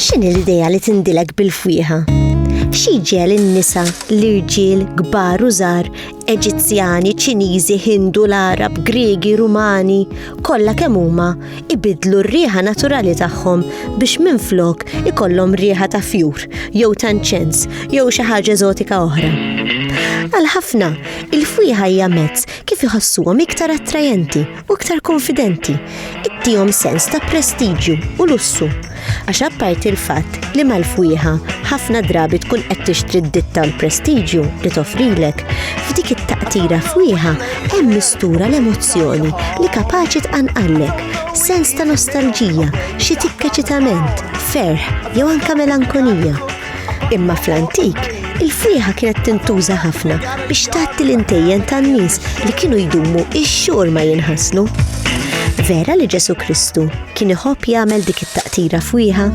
X'inhi l-idea li tindilek bil-fwieħa? X'jiġel in-nisa, l-irġiel, kbar u żgħar, Eġizzjani, Ċiniżi, Hindu, l-Arab, Griegi, Rumani, kollha kemm huma ibidlu r-riħa naturali tagħhom biex minflok ikollhom riħa ta' fjur, jew ta' nċens, jew xi ħaġa eżotika oħra. Għal ħafna, il-fwieħa hija mezz kif iħassuhom iktar attrajenti u iktar konfidenti, ittihom sens ta' prestiġju u lussu. Għax apparti l-fatt li mal-fwieħa ħafna drabi tkun qed tixtri d-ditta u l-prestiġju li toffrilek, f'dik it-taqtira fwieħa hemm mistura l-emozzjoni li kapaċi tqanqallek, sens ta' nostalġija, xi tikka ċitament, ferħ jew anke melankolija. Imma fl-antik, il-frieħa kienet tintuża ħafna biex tatti l-intejjen tan-nies li kienu jdumu ix-xhur ma jinħaslu. Vera li Ġesu Kristu kien iħobb jagħmel dik it-taqtira fwieħa?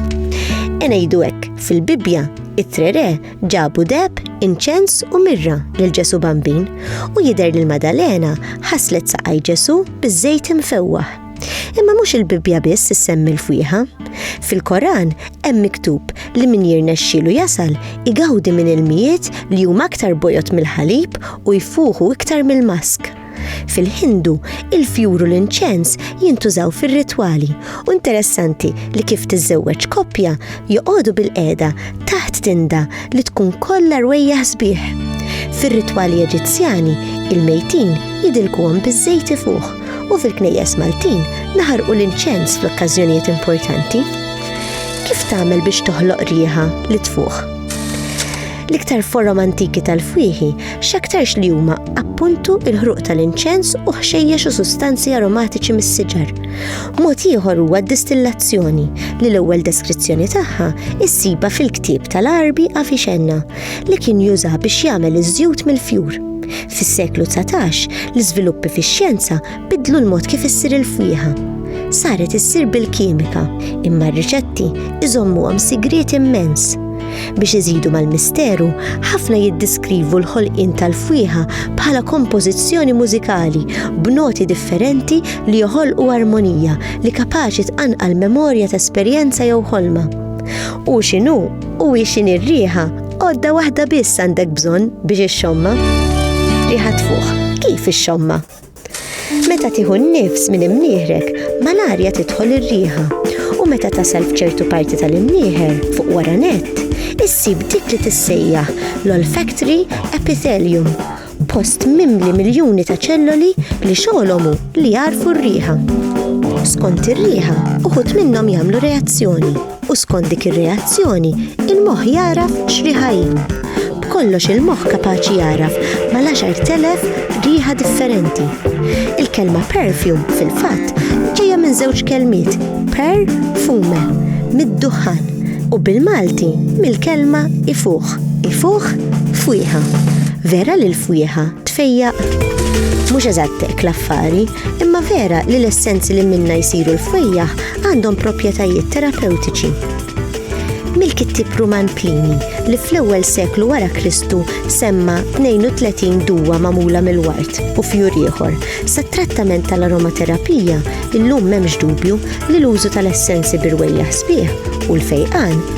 Enejdu hekk, fil-Bibbja, it-trere ġabu deb, inċens u mirra lil Ġesu Bambin u jidher li l-Madalena ħaslet saqaj Ġesu biż-żejt imfewwaħ. Imma mhux il-Bibbja biss issemmi l-fwieħa. Fil-Koran hemm miktub li min jirnexxielu jasal igawdi minn ilmijiet li huma aktar bojod mill-ħalib u jfuħu iktar mill-mask. Fil-Hindu, il-fjur u l-inċens jintużaw fir-ritwali u interessanti li kif tiżżewweġ koppja joqogħdu bil-qeda taħt tinda li tkun kollha rwejjaħ sbieħ. Fir-ritwali Eġizzjani, il-mejtin jidilkuhom biż-żejt ifuħ. u fil-knejjes Maltin naħarqu l-inċens fl-okkażjonijiet importanti. Kif tagħmel biex toħloq riħa li tfuħ? L-iktar forom antiki tal-fwieħi x'aktarx li huma appuntu il-ħruq tal-inċens u ħxejjex u sustanzi aromatiċi mis-siġar. Mod ieħor huwa d-distillazzjoni li l-ewwel deskrizzjoni tagħha issiba fil-ktieb tal-Arbi Afixenna. li kien juża biex jagħmel iż-żjut mill-fjur. Fis-seklu 19, l-iżviluppi fix-xjenza bidlu l-mod kif issir il-fwieħa. Saret issir bil-kimika, imma r-riċetti iżommuhom sigriet immens. Biex iżidu mal-misteru, ħafna jiddiskrivu l-ħolqien tal-fwieħa bħala kompożizzjoni mużikali b'noti differenti li joħolqu armonija li kapaċi tqanqal memorja ta' esperjenza jew ħolma. U x'inhu U ixin ir-riħa, għodda waħda biss għandek bżonn biex ix-xomma. Riħa tfuħ, kif ix-xomma? Meta tieħu n-nifs minn imnieħrek, mal-arja tidħol ir-riħa. U meta tasal f'ċertu parti tal-imnieħer fuq wara nett, issib dik li tissejjaħ l-olfactory epithelium Post mimli miljuni ta' ċelloli li xogħolhom hu li jarfu r-riħa. Skont ir-riħa, uħud minnhom jagħmlu reazzjoni u skont dik ir-reazzjoni, il-moħħ jaraf x'riħa hi. B'kollox il-moħħ kapaċi jaraf mal-10,000 riħa differenti. Il-kelma perfume fil-fatt ġejja minn żewġ kelmiet per fume mid-duħħan u bil-Malti mill-kelma ifuħ. Ifuħ, fwieħa. Vera li l-fwieħa tfejjaq. Mhux eżatt hekk l-affari, imma vera li l-essenzi li minna jsiru l-fwejjaħ għandhom proprjetajiet terapewtiċi mill-kittib Ruman Plini li fl-ewwel seklu wara Kristu semma 32 duwa magħmula mill-wart u fjur ieħor. Sat-trattament tal-aromaterapija illum m'hemmx dubju li l-użu tal-essenzi birwejja sbieħ u l-fejqan